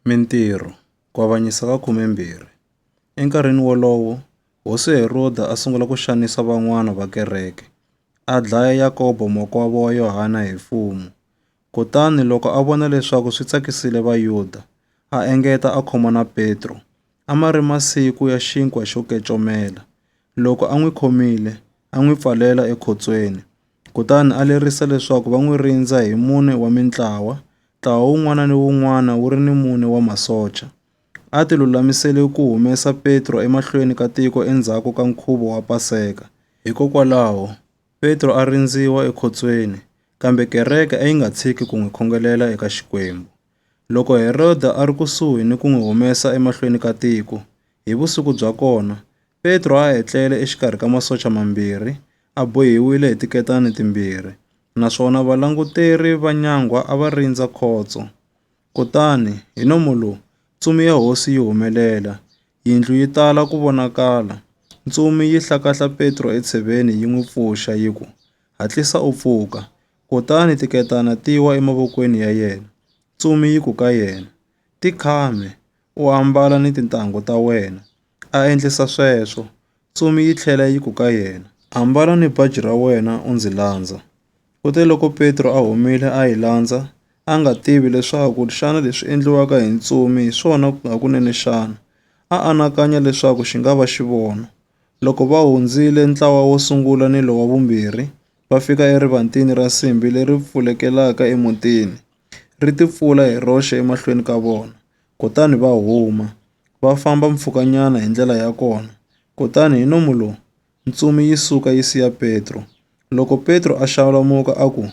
Mintirho, Ku Avanyisa ka Khumembirhi. Enkarhini wolowo, Hosi Heroda a sungula ku xanisa van'wana va kereke, a dlaya Yakobo makwavo wa Yohana hi fumu. Kutani loko a vona leswaku swi tsakisile Vayuda, a engeta a khoma na Petro. A ma ri masiku ya xinkwa xo kecomela. Loko a n'wi khomile, a n'wi pfalela ekhotsweni. Kutani a lerisa leswaku va n'wi rindza hi mune wa mintlawa, ntlawa wun'wana ni wun'wana wu ri ni mune wa masocha. A ti lulamisele ku humesa Petro emahlweni ka tiko endzhaku ka nkhuvo wa Paseka. Hikokwalaho, Petro a rindziwa ekhotsweni, kambe kereke a yi nga tshiki ku n'wi khongelela eka Xikwembu. Loko Heroda a ri kusuhi ni ku n'wi humesa emahlweni ka tiko, hi vusiku bya kona, Petro a etlele exikarhi ka masocha mambirhi, a bohiwile hi tiketani timbirhi, naswona valanguteri va nyangwa a va rindza khotso. Kutani, hi nomo lowu, ntsumi ya hosi yi humelela, yindlu yi tala ku vonakala. Ntsumi yi hlakahla Petro etsheveni yi n'wi pfuxa yi ku, Hatlisa u pfuka! Kutani tiketana ti wa emavokweni ya yena. Ntsumi yi ku ka yena, Tikhame, u ambala ni tintangu ta wena. a endlisa sweswo, tsumi yi tlhela yi ku ka yena, Ambala ni baji ra wena u ndzi landza. Kuteloko Petro a humile a yi landza, a nga tivi leswaku xana leswi endliwaka hi ntsumi hi swona hakunene xana, a anakanya leswaku xi nga va xivono. Loko va hundzile ntlawa wo sungula ni lowa vumbirhi, va fika erivatini ra nsimbi leri pfulekela emutini, ri tipfula hi roxe emahlweni ka vona. kutani va huma, va famba mpfhukanyana hi ndlela ya kona, kutani hi nomu lowu, ntsumi yi suka yi siya Petro. Loko Petro a xalamuka a ku,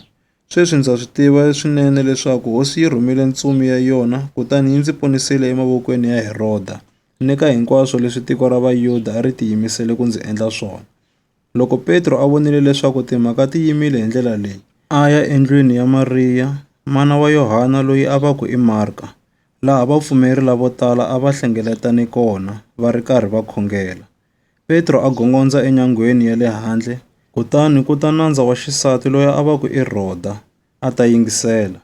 Sweswi ndza swi tiva swinene leswaku Hosi yi rhumile ntsumi ya yona kutani yi ndzi ponisile emavokweni ya Heroda ni ka hinkwaswo leswi tiko ra Vayuda a ri tiyimisele ku ndzi endla swona. Loko Petro a vonile leswaku timhaka ti yimile hi ndlela leyi, a ya endlwini ya Mariya, mana wa Yohana loyi a va ku i Marka, laha vapfumeri lavo tala a va hlengeletane kona va ri karhi va khongela. Petro a gongondza enyangweni ya le handle, kutani ku ta nandza wa xisati loyi a va ku i Rhoda, a ta yingisela.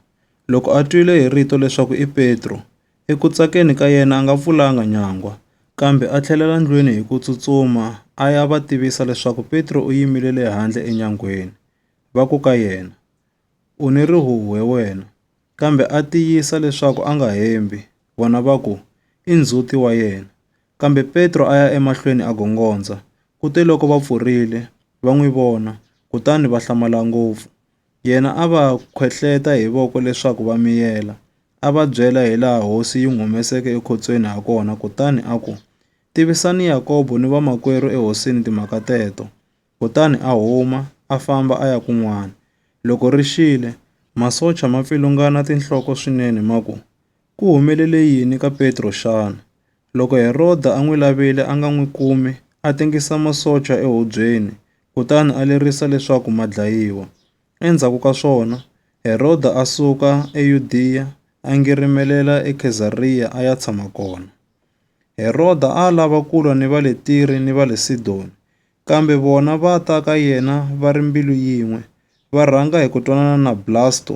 Loko a twile hi rito leswaku i Petro, Eku tsakeni ka yena a nga pfulanga nyangwa, kambe a tlhelela ndlwini hi ku tsutsuma a ya va tivisa leswaku Petro u yimile le handle enyangweni. Va ku ka yena, U ni rihuhwe wena! Kambe a tiyisa leswaku a nga hembi. Vona va ku, I ndzhuti wa yena. Kambe Petro a ya emahlweni a gongondza, kuteloko va pfurile, va n'wi vona, kutani va hlamala ngopfu. Yena a va khwehleta hi voko leswaku va miyela, a va byela hilaha hosi yi n'wi humeseke ekhotsweni hakona kutani a ku, Tivisani Yakobo ni vamakwerhu ehosini timhaka teto. Kutani a huma, a famba a ya kun'wana. Loko ri xile, masocha ma pfilungana tinhloko swinene ma ku, Ku humelele yini ka Petro xana? Loko Heroda a n'wi lavile a nga n'wi kumi, a tengisa masocha ehubyeni kutani a lerisa leswaku ma dlayiwa. Endzhaku ka swona, Heroda a suka eYudiya a ngirimelela eKhezariya a ya tshama kona. Heroda a a lava ku lwa ni va le Tire ni va le Sidoni, Kambe vona va ta ka yena va ri mbilu yin'we, va rhanga hi ku twanana na Blasto,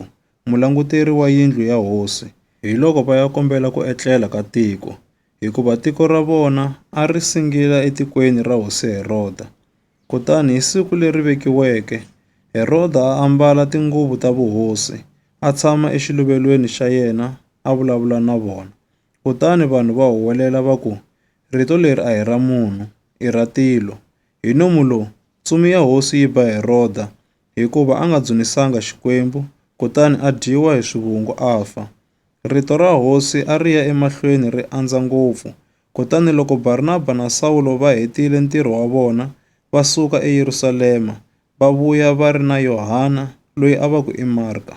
mulanguteri wa yindlu ya hosi, hiloko va ya kombela ku etlela ka tiko, hikuva tiko ra vona a ri singila etikweni ra hosi Heroda. Kutani hi siku leri vekiweke, Heroda a ambala tinguvu ta vuhosi, a tshama exiluvelweni xa yena a vulavula na vona. Kutani vanhu va huwelela va ku, Rito leri a hi ra munhu, i ra tilo. Hi nomu lowu, ntsumi ya hosi yi ba Heroda, hikuva a nga dzunisanga Xikwembu, kutani a dyiwa hi swivungu a fa. Rito ra hosi a ri ya emahlweni ri andza ngopfu. Kutani loko Barnaba na Sawulo va hetile ntirho wa vona, va suka eYerusalema, va vuya va ri na Yohana, loyi a va ku i Marka.